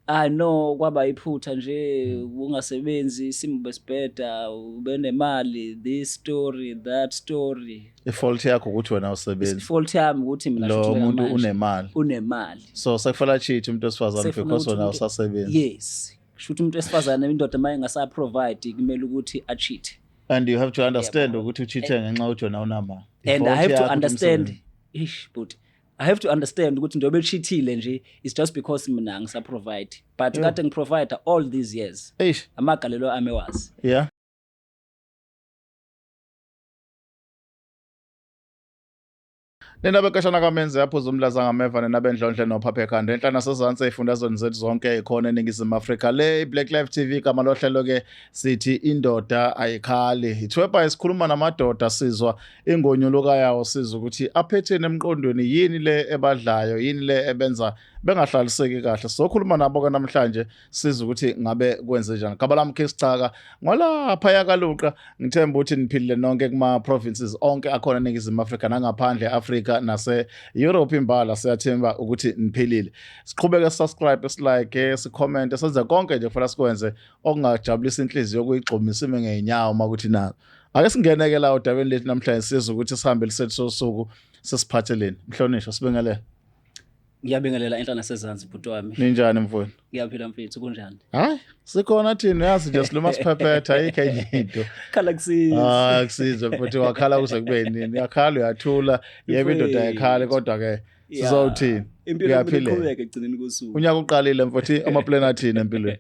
Ah no kwaba iphutha nje hmm. ungasebenzi isimo besibheda ubenemali this story that story ifault yakho ukuthi wena usebenzi ifault yami ukuthi mina lo muntu unemali unemali so sekufanele cheat umuntu osifazane because wena usasebenzi yes kushuthi umuntu esifazane indoda maye ngasa provide kumele ukuthi a cheat and you have to understand ukuthi ucheat ngenxa ukuthi wena unamali and i have to understand ish but I have to understand ukuthi njengoba eshithile nje it's just because mina ngisa provide but yeah. kade ngiprovide all these years Eish. amagalelo ami wazi yeah Nendabe kashana kamenze yaphuza umlaza ngameva nenabe ndlondle nophaphe khanda enhla nasezantsi efundazweni zethu zonke ikhona eningizimu Afrika le Black Life TV kama lohlelo ke sithi indoda ayikhali ithwebha isikhuluma namadoda sizwa ingonyuluka yawo siza ukuthi aphetheni emqondweni yini le ebadlayo yini le ebenza bengahlaliseki kahle sokhuluma nabo ke namhlanje siza ukuthi ngabe kwenze njani gaba lami ke sichaka ngolapha yakaluqa ngithemba ukuthi niphilile nonke kuma provinces onke akhona eningizimu Afrika nangaphandle Afrika nase Europe imbala siyathemba ukuthi niphilile siqhubeke subscribe silike sicomment senze konke nje kufanele sikwenze okungajabulisa inhliziyo kuyigxumisa ime ngeenyawo makuthi nalo ake singene-ke la odabeni lethu namhlanje siza ukuthi sihambe lisethi sosuku sesiphatheleni mhlonishwa sibingelela ngiyabingelela enhla nasezansi bhuti wami ninjani mfowenu ngiyaphila mfethu kunjani hayi sikhona thina uyazi nje siluma siphephetha ayikho enye into khala kusiza hayi kusiza futhi wakhala kuze kube nini yakhala uyathula yebo indoda yakhale kodwa ke sizowuthini impilo iqhubeke ekugcineni kosuku unyaka uqalile mfowethu amaplan athini empilweni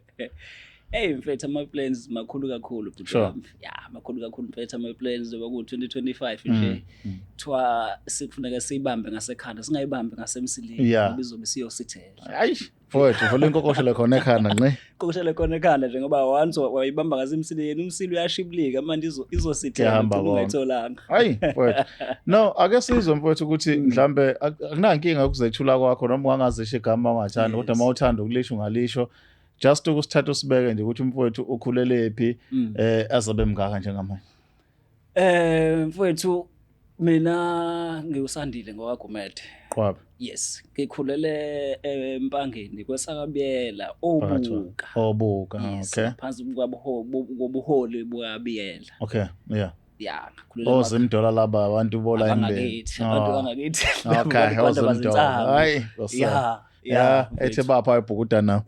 Hey mfethu ama plans makhulu kakhulu bhuti sure. wami. Ya makhulu kakhulu mfethu ama plans oba ku 2025 Mm, nje. mm. Kuthiwa sikufuneka siyibambe ngasekhanda singayibambi ngasemsileni Yeah. ngoba izobe siyosithela. Ayi, mfowethu, vula inkokoshelo khona ekhanda nqe. Kokushela khona ekhanda nje ngoba once wa- wayibamba ngasemsileni umsili uyashibilika manje izo- izosithela Kuyahamba uthole konke. ungayitholanga. Hayi, mfowethu. No, ake sizwe mfowethu ukuthi Mm. mhlambe ak- akunankinga ukuzethula kwakho noma ungangazisho igama ungathanda kodwa Yes. uma uthanda ukulisho ungalisho. just ukusithatha usibeke nje ukuthi umfowethu ukhulelephi mm. eh azabe mngaka njengamanje eh mfowethu mina ngiwusandile ngowagumede qwabe yes ngikhulele eh, empangeni kwesakabiyela obuka obuka okay phansi kwabuholi bwabiyela okay yeah ya ngakhulula ozimdola laba abantu bola imbele abantu oh. bangakithi okay ozimdola hayi ya ya ethe bapha ebhukuda now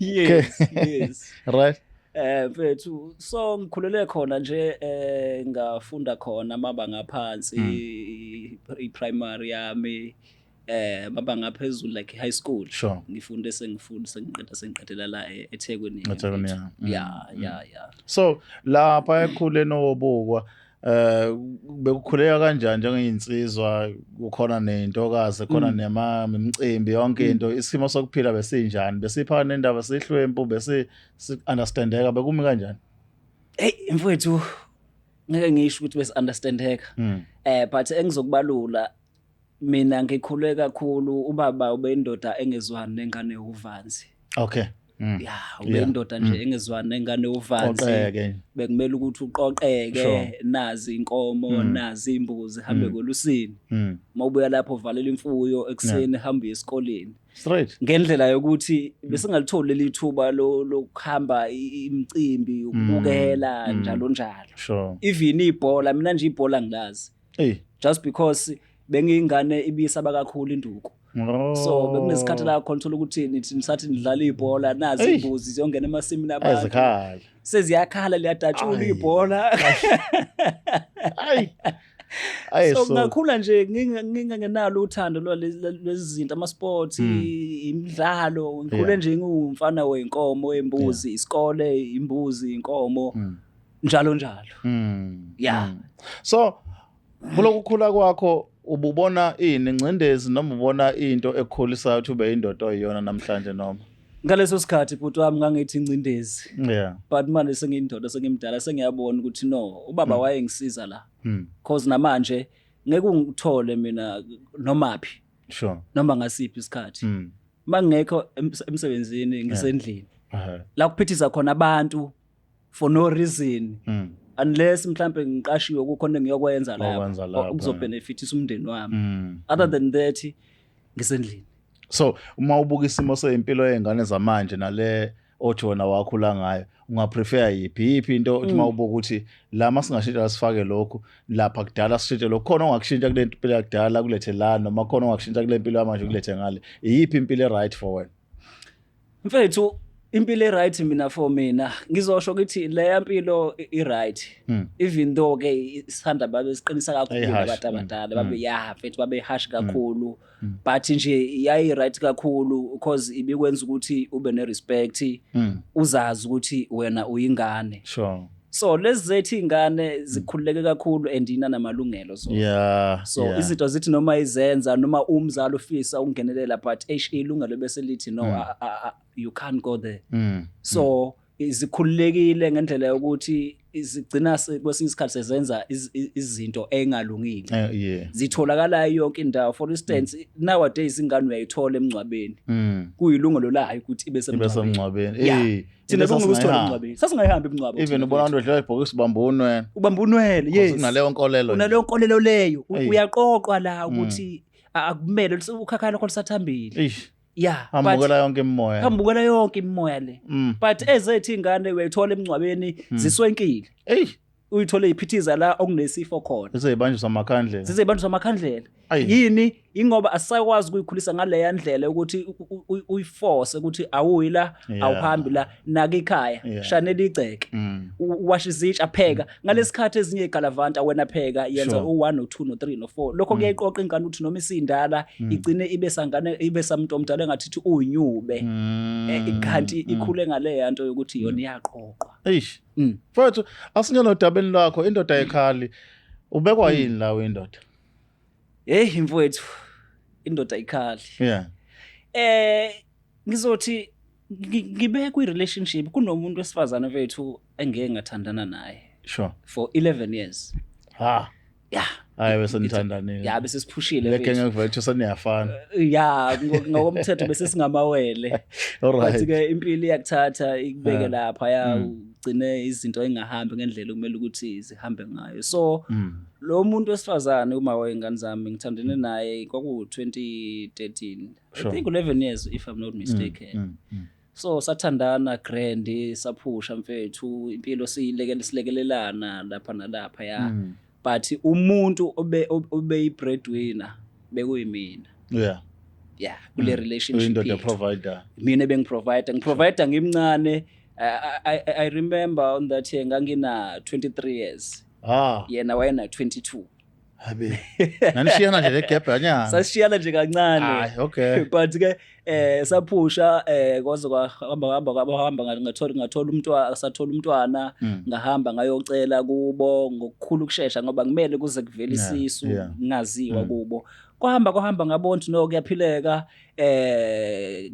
yes yes right eh mfethu so ngikhulele khona nje eh ngafunda khona amabanga aphansi hmm. i primary yami eh baba ngaphezulu like high school sure. ngifunde sengifunda sengiqeda sengiqedela la e- eThekwini eThekwini ya mm. ya mm. ya ya so lapha ekhule nowobukwa eh bekukhuleka kanjani njengeyinsizwa kukhona nentokazi khona mm. nema imicimbi yonke mm. into isimo sokuphila besinjani besipha nendaba sihlwempu bese understandeka bekumi kanjani hey mfowethu ngeke ngisho ukuthi besi understandeka mm. eh but engizokubalula Mina ngikhule kakhulu ubaba ubendoda engezwani nengane uvanzi. Okay. Mm. Ya, ubendoda yeah. nje mm. engezwani nengane uvanzi. Qoqeke. Bekumele ukuthi uqoqeke sure. nazi inkomo, mm. nazi imbuzi hambe mm. kolusini. Mm. Mawubuya lapho valela imfuyo ekseni yeah. hambe esikoleni. Straight. Ngendlela yokuthi mm. besingalitholi leli thuba lokuhamba imicimbi ukubukela mm. njalo njalo. Sure. Even ibhola mina nje ibhola ngilazi. Ey. just because bengiyingane ibisaba kakhulu induku Oh. so bekunesikhathi la khona thola ukuthi nithi nisathi nidlala ibhola nazi Ey. imbuzi ziyongena emasimini abantu Ayizikhala. seziyakhala liyadatshula Ay. ibhola Ay. Ay so so. ngakhula nje nginga- ngingangenalo uthando lwale- lwe- lwezi zinto ama-sports Mm. i- imidlalo ngikhule Yeah. nje ngiwumfana wenkomo imbuzi isikole imbuzi inkomo Mm. njalo njalo mm. yeah mm. so kulokhu khula kwakho ububona ini ingcindezi noma ubona into ekukhulisayo ukuthi ube indoda oyiyona namhlanje noma ngaleso sikhathi bhuti wami ngangithi ingcindezi yeah but manje sengiyindoda sengimdala sengiyabona ukuthi no ubaba mm. wayengisiza la mm. cause namanje ngeke ungithole mina noma phi sure noma ngasiphi isikhathi mm. mangekho emsebenzini ngisendlini la kuphithisa khona abantu for no reason mm. unless mhlambe ngiqashiwe kukhona ngiyokwenza lapha okuzobhenefithisa umndeni wami mm. other mm. than that ngisendlini so uma ubuka isimo seyimpilo yezingane zamanje nale othi wona wakhula ngayo ungaprefer yiphi yiphi into uthi uma mm. ubuka ukuthi la masingashintsha sifake lokhu lapha kudala sishintshe lokhu khona ongakushintsha kule mpilo yakudala kulethe la noma khona ongakushintsha kule mpilo yamanje kulethe ngale iyiphi impilo e-right for wena mfethu impilo e-right mina for mina ngizosho ukuthi leya mpilo i- i-right Mm. even though ke isithanda babe siqinisa kakhulu Eyi, harsh. abantu abadala Mm. babe ya mfethu babe harsh kakhulu Mm. but nje yayi-right kakhulu because ibikwenza ukuthi ube ne-respect Mm. uzazi ukuthi wena uyingane Sure. so lezi zethu iy'ngane zikhululeke kakhulu and inanamalungelo so, yeah, so yeah. izinto zithi noma izenza noma umzali ufisa ukungenelela but eish ilungelo bese lithi no mm. a, a, a, you can't go there mm. so mm zikhululekile ngendlela yokuthi zigcina kwesinye isikhathi sezenza izinto engalungile eh, zitholakala yonke indawo for instance mm. nowadays ingane uyayithola emngcwabeni mm. kuyilungelo layo ukuthi ibe semngcwabeni thina Into bekungeke usithole sasingayihambi. emngcwabeni sasingayihambi emngcwabo even thina ubona bethu. abantu edlala ibhokisi ubamba unwena ubamba unwele yes unaleyo nkolelo unaleyo nkolelo leyo U- Eyi. uyaqoqwa la Mm. ukuthi a- akumele lus- ukhakhaya lakho lusathambile Eish, ya hambukela yonke imimoya hambukela yonke imimoya le Mm. but ezethu iy'ngane uyayithola emngcwabeni Mm. ziswenkile Eish, uyithole iphithiza la okunesifo khona zizeyibanjwa samakhandlela zizeyibanjwa samakhandlela yini ingoba asisakwazi ukuyikhulisa ngaleya ndlela ukuthi uyiforce ukuthi awuyi la awuhambi la naka ikhaya shanela igceke mm. washa izitsha pheka mm. ngalesikhathi ezinye igalavanta wena pheka yenza u1 no 2 no 3 no 4 lokho mm. kuyayiqoqa ingane ukuthi noma isindala igcine ibe sangane ibe samuntu omdala engathi uthi uyinyube eh, kanti ikhule ngaleya nto yokuthi yona iyaqoqwa eish mm. mfowethu asingena odabeni lwakho indoda yekhali ubekwa mm. yini lawo indoda heyi mfowethu indoda ikhali yeah eh ngizothi ngibe kwi relationship kunomuntu wesifazane wethu engeke ngathandana naye sure for 11 years ha ya hayi bese nithandanile ya bese siphushile le gang of virtue saniyafana eh, ya ngokomthetho bese singamawele alright ke impilo iyakuthatha ikubeke lapha ya mm. ugcine izinto engahambi ngendlela okumele ukuthi zihambe ngayo so mm. lo muntu wesifazane uma wayengane zami ngithandene naye kwaku 2013 i think 11 years if i'm not mistaken mm. So sathandana grand saphusha mfethu impilo siyilekele silekelelana lapha nalapha ya. Mm. But umuntu obe obe i breadwinner bekuyimina. Yeah. Yeah, kule mm. relationship. Indoda provider. Mina bengi provider, ngi provider ngimncane. I, I, I remember on that year ngangina 23 years. Ah. Yena wayena 22. Habe. Nanishiyana nje legebhe anyana. Sasishiyana nje kancane. Hayi, okay. But ke eh saphusha eh kwaze kwahamba hamba kwahamba ngathola ngathola umntwana asathola umntwana hmm. ngahamba ngayocela kubo ngokukhulu kusheshsha ngoba ngimele kuze kuvele isisu ngaziwa hmm. kubo kwahamba kwahamba ngabona ukuthi no kuyaphileka eh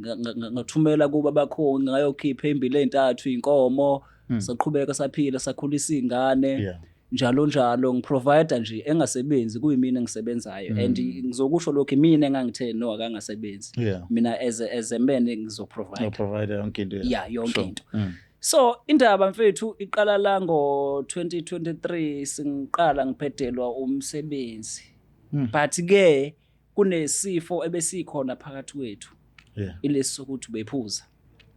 ngathumela kuba bakho ngayokhipha imbili ezintathu inkomo hmm. saqhubeka saphila sakhulisa izingane yeah. njalo njalo ngiprovider nje engasebenzi kuyimina engisebenzayo and mm. ngizokusho lokho imina engangithe no akangasebenzi yeah. mina as a, as a man ngizoprovide no provider yonke into yeah yonke sure. into mm. so indaba mfethu iqala la ngo 2023 singiqala ngiphedelwa umsebenzi mm. but ke kunesifo ebesikhona phakathi kwethu yeah. ilesi sokuthi bephuza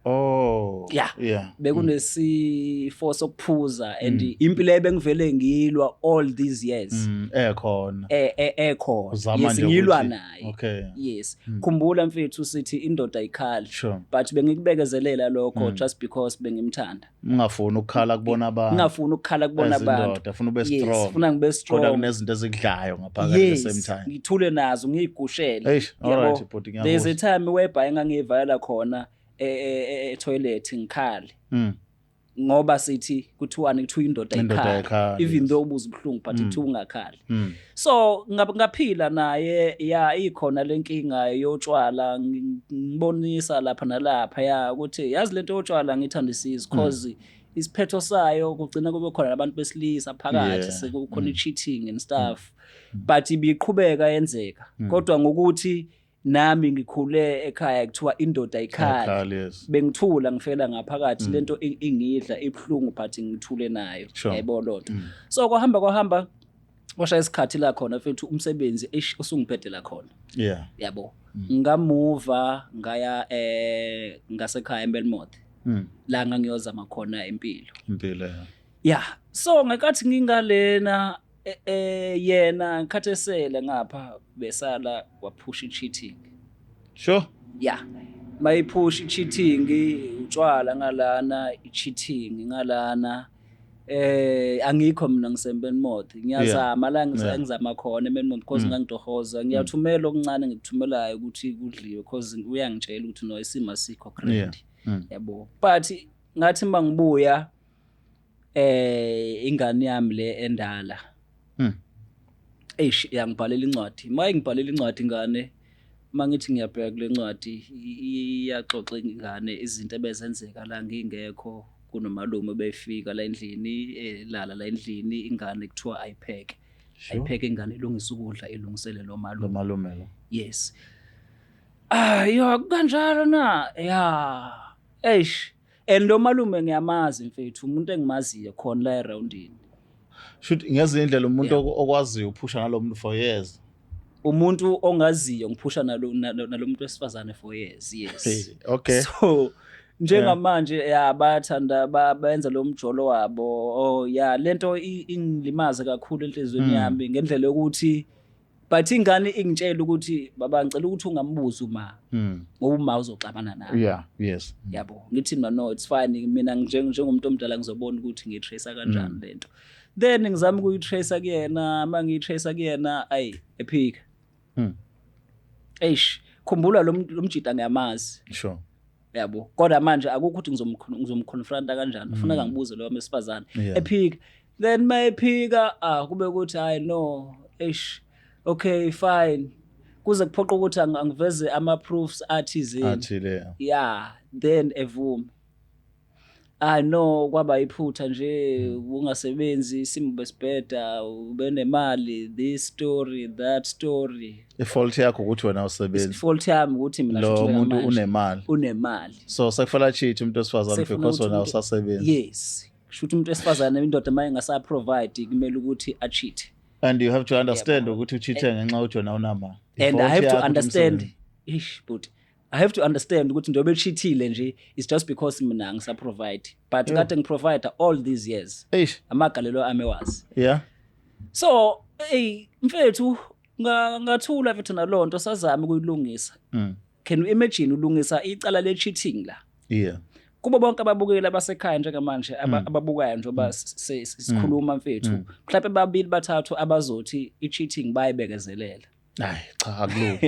Oh yeah, yeah. bekunesifo mm. sokuphuza and mm. impilo ebengivele ngilwa all these years mm, ekhona eh, eh ekhona yes ngilwa naye okay yes mm. khumbula mfethu sithi indoda ayikhali sure. but bengikubekezelela lokho mm. just because bengimthanda Ngingafuni ukukhala kubona abantu. Ngingafuni ukukhala kubona abantu. Ezindoda funa ube strong. Yes, funa ngibe strong. Kodwa kunezinto ezikudlayo ngaphakathi yes, the same time. Ngithule nazo ngiyigushele. Eish, alright bhuti ngiyabona. There's a time whereby engangiyivala khona e, e, e, e toilet ngikhale. Mm. Ngoba sithi kuthiwani kuthiwa indoda ikhala. Even though ubuza ubuhlungu but mm. kuthiwa ungakhali. Mm. so ngaphila naye ya ikhona lenkinga yotshwala ngibonisa lapha nalapha ya ukuthi yazi lento yotshwala ngithanda isizi because mm. isiphetho sayo kugcina kube khona abantu besilisa phakathi sekukhona mm. i-cheating and stuff mm. but ibiqhubeka yenzeka kodwa ngokuthi nami ngikhule ekhaya kuthiwa indoda ikhaya yes. bengithula ngifela ngaphakathi mm. lento ingidla ibuhlungu but ngithule nayo yayibona sure. lonto mm. so kwahamba kwahamba kwashaya isikhathi la khona futhi umsebenzi eish usungiphethe la khona yeah yabo mm. ngamuva ngaya eh ngasekhaya eMelmoth mm. la ngangiyozama khona impilo impilo yeah so ngekathi ngingalena Eh, eh yena ngikhathesele ngapha besala waphusha i-cheating. Sure. Yeah. Mayiphusha i-cheating, utshwala ngalana, i-cheating ngalana. eh angikho mina ngisempeni mothi ngiyazama la ngizama khona empeni mothi because mm. ngangitohoza ngiyathumela okuncane ngikuthumelayo ukuthi kudliwe because uyangitshela ukuthi no isimo asikho credit mm. yabo but ngathi mangibuya eh ingane yami le endala mm. eish yangibhalela incwadi maye ngibhalela incwadi ingane mangithi ngiyabheka kule ncwadi iyaxoxa ingane izinto ebezenzeka la ngingekho kunomalume befika la endlini elala eh, la endlini ingane kuthiwa ayipheke ayipheke ingane ilungisa ukudla ilungisele lo malume malume yes ah yo kanjalo na ya eish and lo malume ngiyamazi mfethu umuntu engimaziyo khona la eroundini shuthi ngezinye indlela umuntu Yeah. okwaziyo uphusha nalo muntu for years umuntu ongaziyo ngiphusha nalo nalo nalo muntu wesifazane for years yes Hey, okay so njengamanje ya bayathanda ba- benza lo mjolo wabo oh ya lento i- ingilimaze kakhulu enhliziyweni Mm. yami ngendlela yokuthi but ingane ingitshela ukuthi baba ngicela ukuthi ungambuzi uma hmm. ngoba uma uzoxabana naye yeah yes hmm. yabo ngithi mina no it's fine mina njengomuntu omdala ngizobona ukuthi ngitracer kanjani hmm. lento then ngizama ukuyitracer kuyena uma ngiyitracer kuyena ayi ephika eish khumbula lo mjita ngiyamazi sure yabo kodwa manje akukho ukuthi ngizomconfronta kanjani kufuneka ngibuze loyo mesifazane ephika then mayephika ah kube ukuthi hayi no eish okay fine kuze kuphoqa ukuthi angiveze ama proofs athizini athile yeah then evume ah no kwaba iphutha nje hmm. ungasebenzi isimo besibheda ubenemali this story that story ifault yakho ukuthi wena usebenzi ifault yami ukuthi mina lo muntu unemali unemali so sekufanele cheat umuntu osifazane because wena usasebenzi yes kusho ukuthi umuntu wesifazane indoda uma ingasaprovide kumele ukuthi acheat and you have to understand ukuthi ucheat ngenxa ujona unama and i have to understand ish but i have to understand ukuthi njengoba echithile nje it's just because mina ngisaprovide but yeah. kade ngiprovide all these years ish amagalelo ami wazi yeah so hey mfethu ngathula mfethu nalonto sazama ukuyilungisa mm. can you imagine ulungisa icala le cheating la yeah kubo bonke ababukeli abasekhaya njengamanje mm. ababukayo njengoba mm. sikhuluma mm. mfethu mhlawumbe babili bathathu abazothi i-cheating bayibekezelele hayi cha akulula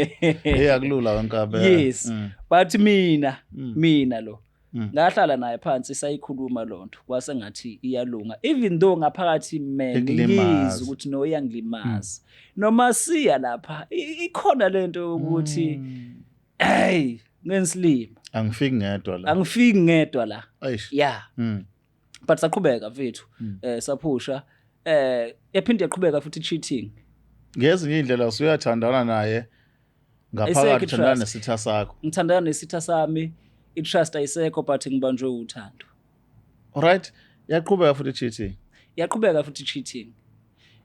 hey akulula wenkabe yes but mina mina lo Mm. ngahlala naye phansi sayikhuluma loo nto kwase ngathi iyalunga even though ngaphakathi mina Ikulimaza. ngiyizwa ukuthi no iyangilimaza noma siya lapha i- ikhona le nto yokuthi Mm. hey ngensilima angifiki ngedwa la angifiki ngedwa la eish ya Mm. but saqhubeka mfethu mm. eh saphusha eh yaphinde yaqhubeka futhi cheating ngezinye indlela usuyathandana naye ngaphakathi uthandana nesitha sakho ngithandana nesitha sami i-trust ayisekho but ngibanjwe uthando alright yaqhubeka futhi cheating yaqhubeka futhi cheating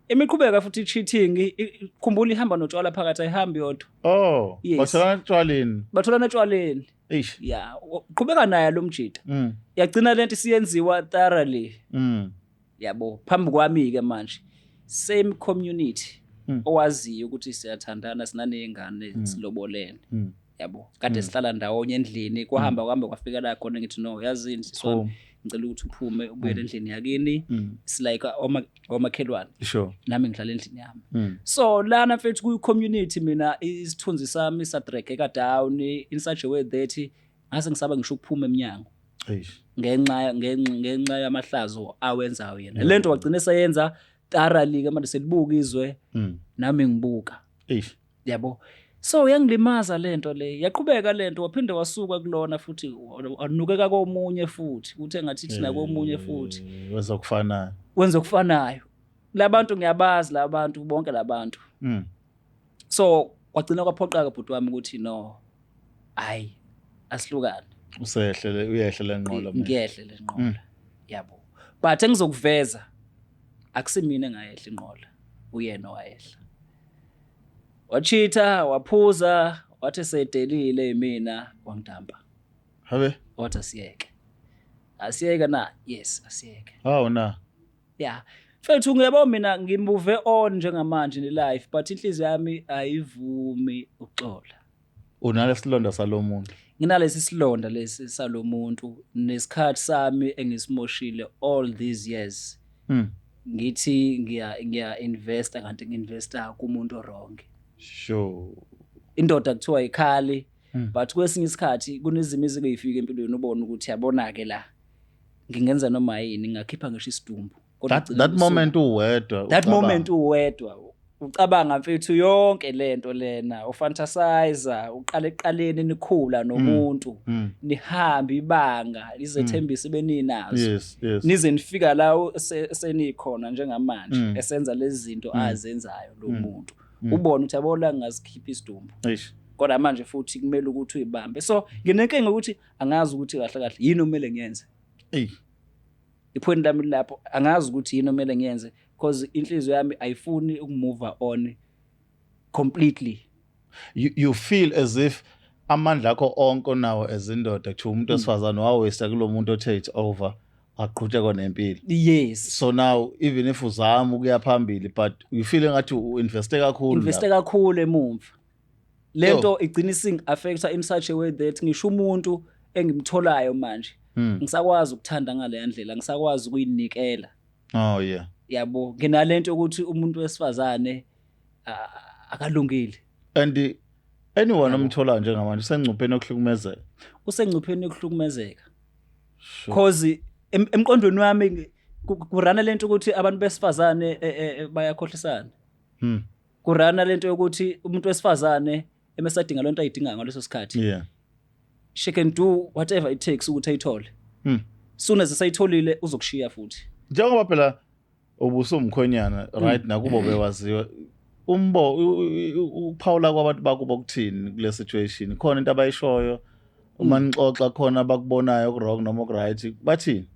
imiqhubeka futhi cheating khumbula ihamba notshwala phakathi ayihambi yodwa oh yes. batholana etshwaleni batholana etshwaleni Eish. ya u- qhubeka naye lo mjita Mm. yagcina lento isiyenziwa thoroughly Mm. yabo phambi kwami ke manje same community Mm. owaziyo ukuthi siyathandana sinanezingane silobolene Mm. yabo kade sihlala ndawonye endlini kwahamba kuhambe kwafika la khona ngithi no yazini Boom. sisona ngicela ukuthi uphume ubuyele mm. endlini yakini mm. it's like uh, omakhelwane sure nami ngihlala endlini yami mm. so lana mfethu kuyi community mina isithunzi sami sadregeka down in such a way that ngase ngisaba ngisho ukuphuma eminyango ngenxa ngenxa yamahlazo awenzayo yena lento wagcina eseyenza thoroughly ke manje selibuka izwe nami ngibuka Yabo. So yangilimaza lento le. Yaqhubeka lento waphinde wasuka kulona futhi wanukeka komunye futhi. Uthe ngathi thina komunye eh, futhi. Wenza okufanayo. Wenza okufanayo. Labantu ngiyabazi labantu bonke labantu. Mm. So kwagcina kwaphoqaka bhuti wami ukuthi no. Hayi asihlukane. Usehlele uyehle lenqola. Ngiyehle lenqola. Mm. Yabo. But engizokuveza akusimina engayehla inqola. Uyena owayehla. Wachitha, waphuza, wathi sedelile imina wangidampa. Habe. Wathi asiyeke. Asiyeke na? Yes, asiyeke. Hawu na. Yeah. Mfethu ngiyabo mina ngimove on njengamanje ne life but inhliziyo yami ayivumi ukuxola. unalesilonda salomuntu nginalesi silonda lesi salomuntu nesikhathi sami engisimoshile all these years mm. ngithi ngiya ngiya investa kanti nginvesta kumuntu wrong sure indoda kuthiwa ikhali mm. but kwesinye isikhathi kunezimo ezikuyifika empilweni ubona ukuthi yabona ke la ngingenza noma yini ngakhipha ngisho isidumbu that, that moment uwedwa that moment uwedwa ucabanga mfethu yonke lento lena ufantasizer uqala eqaleni nikhula mm. nomuntu mm. nihamba ibanga lizethembisa mm. beninazo yes, yes. nize nifika la senikhona njengamanje mm. esenza lezi zinto mm. azenzayo lo mm. muntu mm. ubona ukuthi yabo la ngazikhipha isidumbu kodwa manje futhi kumele ukuthi uyibambe so nginenkinga ukuthi angazi ukuthi kahle kahle yini okumele ngiyenze eyi iphweni lami lilapho angazi ukuthi yini omele ngiyenze because inhliziyo yami ayifuni ukumove on completely you, you feel as if amandla akho onke onawo ezindoda kuthiwa umuntu hmm. wesifazane wawesta kulo muntu othe it's over aqhutshekwa nempilo yes so now even if uzama ukuya phambili but you feel engathi uinveste kakhulu investe kakhulu emumva lento igcina ising affecta in such a way that ngisho umuntu engimtholayo manje hmm. ngisakwazi ukuthanda ngaleya ndlela ngisakwazi ukuyinikela oh yeah yabo nginalento ukuthi umuntu wesifazane akalungile and anyone omtholayo njengamanje usengcupheni yokuhlukumezeka usengcupheni yokuhlukumezeka cause emqondweni wami kurana lento ukuthi abantu besifazane e, e, e, bayakhohlisana hmm. kurana lento yokuthi umuntu wesifazane emesadinga lento ayidinga ngaleso sikhathi yeah she can do whatever it takes ukuthi ayithole mm. soon as esayitholile uzokushiya futhi njengoba phela ubusumkhonyana hmm. right nakubo bewaziwa umbo ukuphawula kwabantu bakubo kuthini kule situation khona into abayishoyo uma hmm. nixoxa khona abakubonayo okurong noma okuright bathini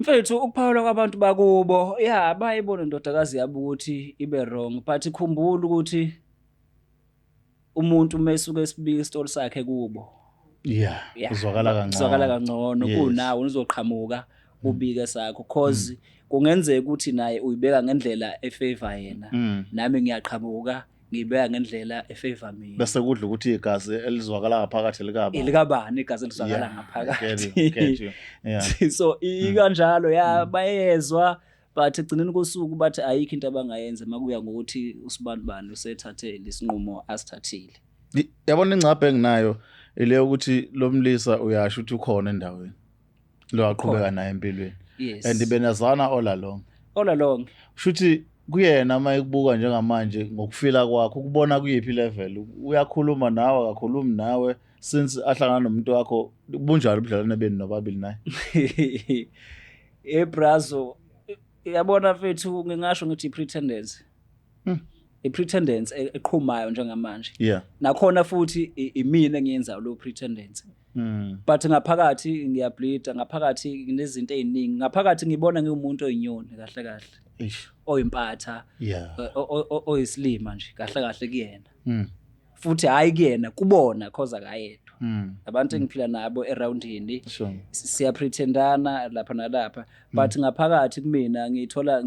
Mfethu ukuphawula kwabantu bakubo ya bayibona indodakazi yabo ukuthi ibe wrong but khumbula ukuthi umuntu mesuke esibika isitoli sakhe kubo yeah uzwakala kancane uzwakala kangcono kunawo uzoqhamuka ubike sakho cause mm. kungenzeka ukuthi naye uyibeka ngendlela efavor yena mm. nami ngiyaqhamuka mm. ngiyibeka ngendlela efavor mina bese kudla ukuthi igazi elizwakala ngaphakathi likaba elikabani igazi elizwakala ngaphakathi so ikanjalo ya mm. bayezwa but ekugcineni kosuku bathi ayikho into abangayenza makuya ngokuthi usibani bani usethathe lesinqumo asithathile yabona ingcabhe enginayo ile ukuthi lomlisa uyasho ukuthi ukhona endaweni lo aqhubeka naye empilweni yes. and benazana all along all along shuthi kuyena uma ekubuka njengamanje ngokufila kwakho ukubona kuyiphi level uyakhuluma nawe akakhulumi nawe since ahlangana nomuntu wakho bunjalo ubudlelwane benu nobabili naye ebrazo yabona mfethu ngingasho ngithi i-pretendence hmm. i-pretendence e-, eqhumayo njengamanje yeah nakhona futhi imina engiyenzayo lo pretendence Mm. But ngaphakathi ngiyableeda, ngaphakathi nginezinto eziningi. Ngaphakathi ngibona ngiwumuntu oyinyoni kahle kahle. Eish. Oyimpatha. Yeah. Oyisilima nje kahle kahle kuyena. Mm. Futhi hayi kuyena kubona cause akayedwa. Mm. Abantu mm. engiphila nabo around yini. Sure. Siya pretendana lapha nalapha. Mm. But ngaphakathi kumina ngithola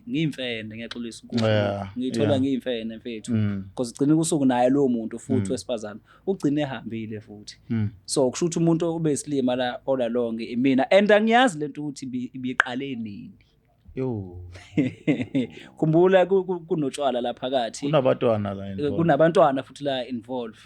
ngiyimfene ngiyaxolisa ukuthi ngithola ngiyimfene mfethu. Cause ugcina kusuku naye lo muntu futhi wesifazana ugcine ehambile futhi mm. so kusho ukuthi umuntu obesilima la ola lonke imina and angiyazi lento ukuthi ibiqale nini yo khumbula kunotshwala la phakathi kunabantwana la eh, kunabantwana futhi la involve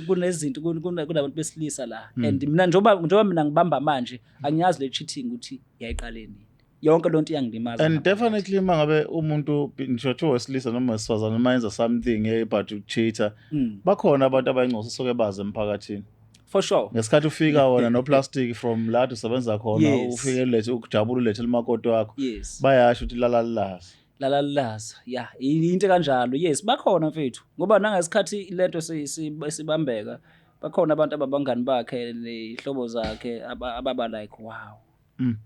kunezinto kunabantu besilisa la mm. and mina njengoba njengoba mina ngibamba manje angiyazi le cheating ukuthi yayiqale nini yonke loo nto iyangilimaza and definitely uma ngabe umuntu ngisho kuthiwa wesilisa noma wesifazane uma yenza something ebut ucheater mm. bakhona abantu abayingcoso soke bazi emphakathini for sure ngesikhathi ufika wona noplastic from la usebenza khona yes. ufike ulethe ukujabula ulethe limakoti wakho yes. bayasho ukuthi lala lilazi lala lilazi ya into kanjalo yes bakhona mfethu ngoba nangesikhathi lento sibambeka bakhona abantu ababangani bakhe nehlobo zakhe ababa like wow mm.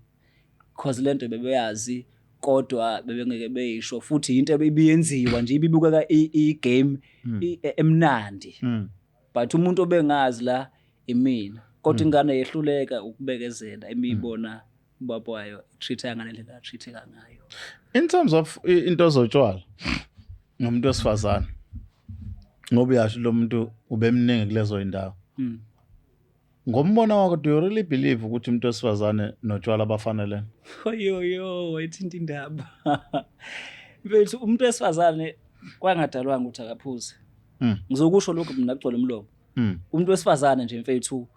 because lento bebeyazi kodwa bebengeke beyisho futhi yinto ebiyenziwa nje ibibukeka i-game hmm. e, emnandi hmm. but umuntu obengazi la imina kodwa hmm. ingane yehluleka ukubekezela imibona ubaba wayo treat-a ngale ndlela atreat-eka ngayo in terms of into zotshwala ngomuntu wesifazane ngoba uyasho lo muntu ubemningi kulezo yindawo Ngombono wakho do you really believe ukuthi umuntu wesifazane notshwala bafanelene? Oyoyo wayithinta indaba. Mfethu umuntu wesifazane kwangadalwanga ukuthi akaphuze. Mm. Ngizokusho lokho mina kugcwele umlomo. Mm. Umuntu wesifazane nje mfethu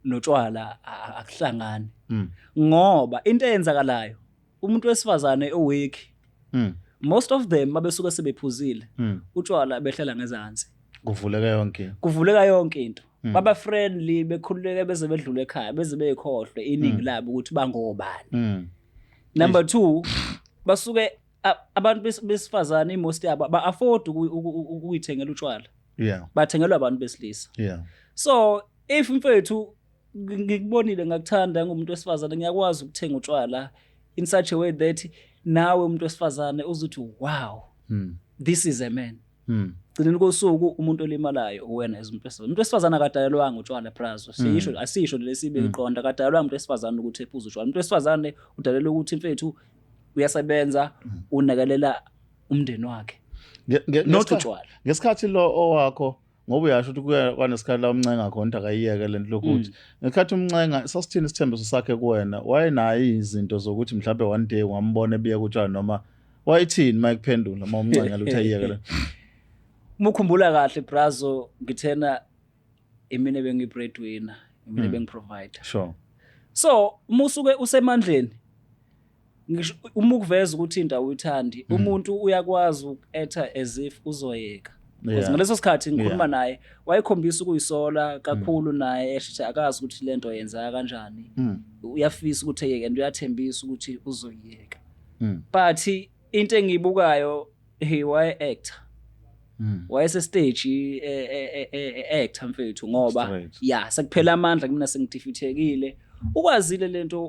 notshwala akuhlangani. Mm. Ngoba into eyenzakalayo umuntu wesifazane oweki mm. most of them mabesuke sebephuzile mm. utshwala behlela ngezansi kuvuleka yonke kuvuleka yonke into mm. baba friendly bekhululeke beze bedlule ekhaya beze beyikhohlwe iningi mm. labo ukuthi bangobani mm. number 2 basuke abantu besifazane imost yabo ba afford ukuyithengela utshwala yeah bathengelwa abantu besilisa yeah so if mfethu ngikubonile ngakuthanda ngumuntu wesifazane ngiyakwazi ukuthenga utshwala in such a way that nawe umuntu wesifazane uzuthi wow mm. this is a man mm. gcineni kosuku umuntu olimalayo uwena as umuntu wesifazane umuntu wesifazane akadalelwanga utshwala prazo hmm. siyisho asisho lesibe iqonda hmm. akadalelwanga umuntu wesifazane ukuthi ephuze utshwala umuntu wesifazane udalelwa ukuthi mfethu uyasebenza hmm. unakalela umndeni wakhe not utshwala ngesikhathi lo owakho ngoba uyasho ukuthi kuya kwanesikhathi la umncenga khona ukuthi akayiyeke lento lokuthi mm. ngesikhathi umncenga sasithini isithembiso sakhe kuwena wayenayo izinto zokuthi mhlawumbe one day wambona ebiya kutshani noma wayithini uma ekuphendula uma umncenga ukuthi ayiyeke lento uma ukhumbula kahle brazo ngithena imina bengiyi-breadwinner imina mm. bengi-provider sure so uma usuke usemandleni ngisho uma ukuveza ukuthi into awuyithandi mm. umuntu uyakwazi uku-acta as if uzoyeka because ngaleso sikhathi ngikhuluma naye wayekhombisa ukuyisola mm. kakhulu naye eshithi akazi ukuthi le nto yenzeka kanjani mm. uyafisa ukuthi eyeke and uyathembisa ukuthi uzoyiyeka but into engiyibukayo hey waye actor hmm. wayese stage e, e, e, actor mfethu ngoba ya sekuphela amandla kumina sengidifithekile ukwazile lento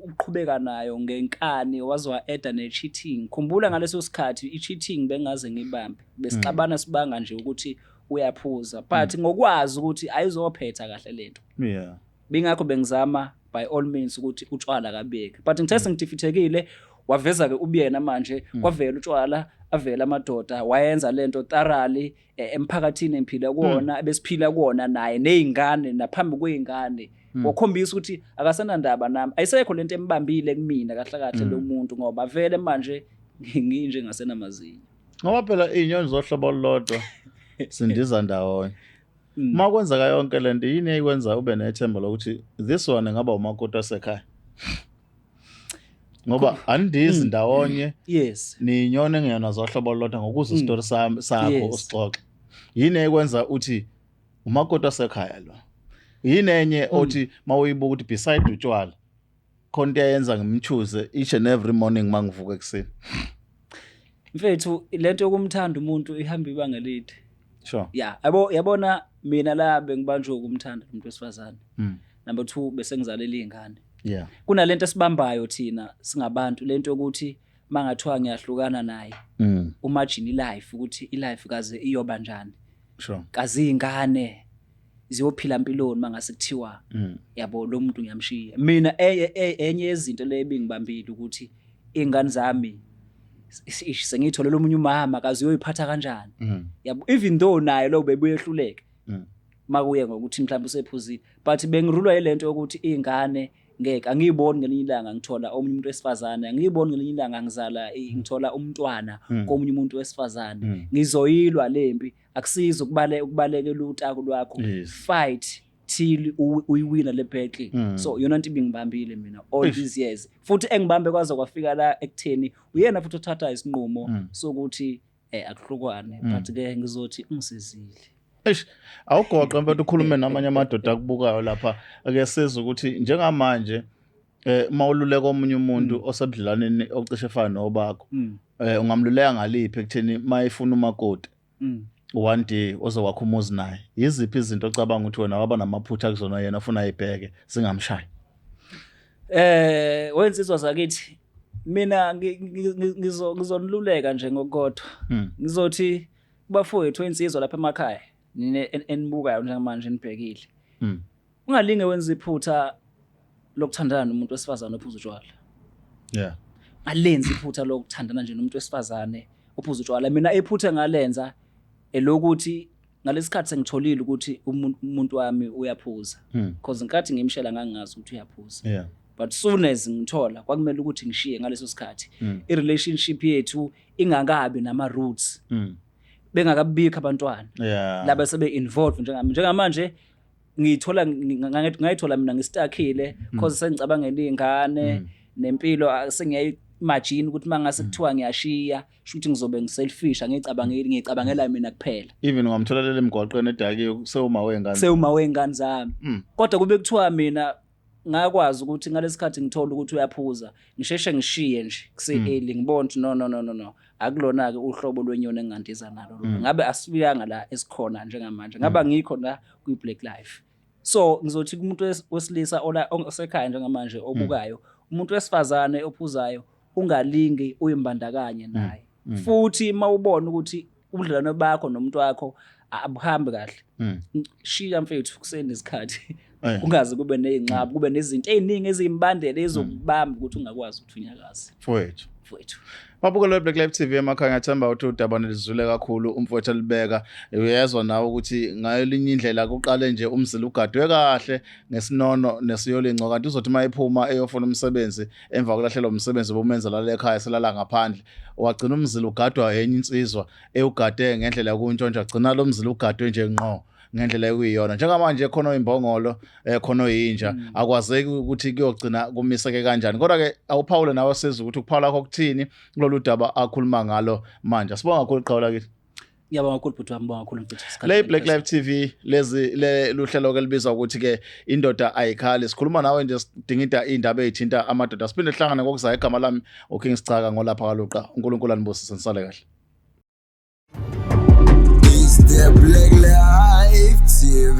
uqhubeka nayo ngenkani wazwa eda ne cheating khumbula ngaleso sikhathi i cheating bengaze ngibambe besixabana hmm. sibanga nje ukuthi uyaphuza but hmm. ngokwazi ukuthi ayizophetha kahle lento yeah bingakho bengizama by all means ukuthi utshwala kabeki but ngithe sengidifithekile waveza-ke ubuyena manje kwavela utshwala avela amadoda wayenza le nto tarali eh, emphakathini engiphila kuwona ebesiphila kuwona naye ney'ngane naphambi kwey'ngane wakhombisa ukuthi akasenandaba nami ayisekho le nto embambile kumina kahle kahle lo muntu ngoba vele manje ngi- nginje ngasenamazinyo ngoba phela iy'nyoni zohlobo olulodwa sindiza ndawonye Mm. uma kwenzeka yonke le nto yini eyikwenza ube nethemba lokuthi this one ngaba umakoti wasekhaya ngoba andizi Mm. ndawonye yes niyinyone ngiyona zohlobo lodwa ngokuza Mm. isitori sami sakho Yes. usixoxe yini eyikwenza uthi umakoti wasekhaya lo yini enye Mm. othi mawuyibuka ukuthi beside utshwala khona into eyenza ngimchoose each and every morning mangivuka ekuseni mfethu lento yokumthanda umuntu ihamba ibanga elide sure yeah yabo yabona mina la bengibanjwe ukumthanda umuntu wesifazane mm. number 2 bese ngizalela izingane yeah kunalento esibambayo thina singabantu lento yokuthi mangathiwa ngiyahlukana naye mm. umajini life ukuthi ilife kaze iyoba njani sure kazi ingane ziyophila mpiloni mangase kuthiwa mm. yabo lo muntu ngiyamshiya mina e, e, e, enye yezinto le ebingibambile ukuthi ingane zami sengiyithole lomunye umama kazi uyoyiphatha kanjani mm. yabo even though naye lo bebuyehluleke mm. makuye ngokuthi mhlawumbe usephuzile but bengirulwa yilento yokuthi ingane ngeke angiyiboni ngelinye ilanga ngithola omunye umuntu wesifazane angiyiboni ngelinye ilanga ngizala ngithola umntwana komunye umuntu wesifazane ngizoyilwa lempi akusiza ukubale ukubalekela utaku lwakho Yes. fight till u- uyiwina le battle Mm. so yona nto ibingibambile mina all Eish. these years futhi engibambe kwaze kwafika la ekutheni uyena futhi othatha isinqumo Mm. sokuthi eh akuhlukwane Mm. but ke ngizothi ungisizile Eish, awugoqe mfethu ukhulume namanye amadoda akubukayo lapha ake sizwe ukuthi njengamanje eh uma ululeka omunye umuntu mm. osebudlelwaneni ocishe efana nobakho mm. eh ungamluleka ngaliphi ekutheni mayifuna umakoti mm. one day ozokwakha umuzi naye yiziphi izinto ocabanga ukuthi wena waba namaphutha kuzona yena ufuna ayibheke singamshayi eh wensizwa zakithi mina ngizoniluleka nje ngokukodwa hmm. ngizothi kubafowethu insizwa lapha emakhaya nine enibukayo njengamanje nibhekile hmm. ungalinge wenza iphutha lokuthandana nomuntu wesifazane ophuza utshwala yeah alenzi iphutha lokuthandana nje nomuntu wesifazane ophuza utshwala mina iphutha ngalenza elokuthi ngalesikhathi sengitholile ukuthi umuntu wami uyaphuza hmm. because nkathi ngimshela ngangazi ukuthi uyaphuza yeah but soon as ngithola kwakumele ukuthi ngishiye ngaleso sikhathi hmm. i relationship yethu ingakabi nama roots hmm. bengakabikho abantwana yeah. laba sebe involved njengami njengamanje ngiyithola ngayithola mina ngistakhile mm. cause sengicabangela iy'ngane mm. nempilo sengiyayimajini ukuthi uma ngase mm. kuthiwa ngiyashiya shuthi ngizobe ngiselfish angiyicabangeli ngiyicabangela mina kuphela even ungamthola leli mgwaqweni edakiwe sewuma wey'ngane sewuma wey'ngane zami kodwa kube kuthiwa mina ngakwazi ukuthi ngalesikhathi ngithola ukuthi uyaphuza ngisheshe ngishiye nje kuse-early mm. ngibona ukuthi no no no no no akulona-ke uhlobo lwenyoni engingandiza nalo mm. ngabe asifuyanga la esikhona njengamanje ngabe mm. angikho la kwi-black life so ngizothi kumuntu wesilisa osekhaya njengamanje obukayo umuntu wesifazane ophuzayo ungalingi uyimbandakanye naye futhi uma ubona ukuthi ubudlelwano bakho nomuntu wakho abuhambi kahle mm. shiya mfethu kusenesikhathi eh. kungaze kube nezinqaba kube nezinto eziningi ezimbandela ezokubamba ukuthi ungakwazi ukuthi unyakaze mfowethu mfowethu Mabukelo weBlack Life TV emakhaya ngiyathemba ukuthi udaba nilizule kakhulu umfowethu alibeka uyezwa nawe ukuthi ngayo linye indlela kuqale nje umzila ugadwe kahle ngesinono nesiyolingco kanti uzothi mayiphuma eyofuna umsebenzi emva kulahlelwa umsebenzi obumenza lale ekhaya selala ngaphandle wagcina umzila ugadwa enye insizwa ewugade ngendlela yokuntshontsha gcina lo mzila ugadwe nje nqo ngendlela ekuyiyona njengamanje khona oyimbongolo eh khona oyinja mm. akwazeki ukuthi kuyogcina kumiseke kanjani kodwa ke awuphawule nawe siza ukuthi ukuphawula kwakho kuthini kulolu daba akhuluma ngalo manje sibonga kakhulu qhawula kithi Ngiyabonga kakhulu bhuti wami, bonga kakhulu ngicitha isikhathi. Le Black Life TV lezi le luhlelo ke libizwa ukuthi ke indoda ayikhali. Sikhuluma nawe nje sidingida indaba ezithinta amadoda. Siphinde sihlangane ngokuzayo igama lami uKing Sichaka ngolapha kaluqa. uNkulunkulu anibusise nisale kahle. Is there black life TV?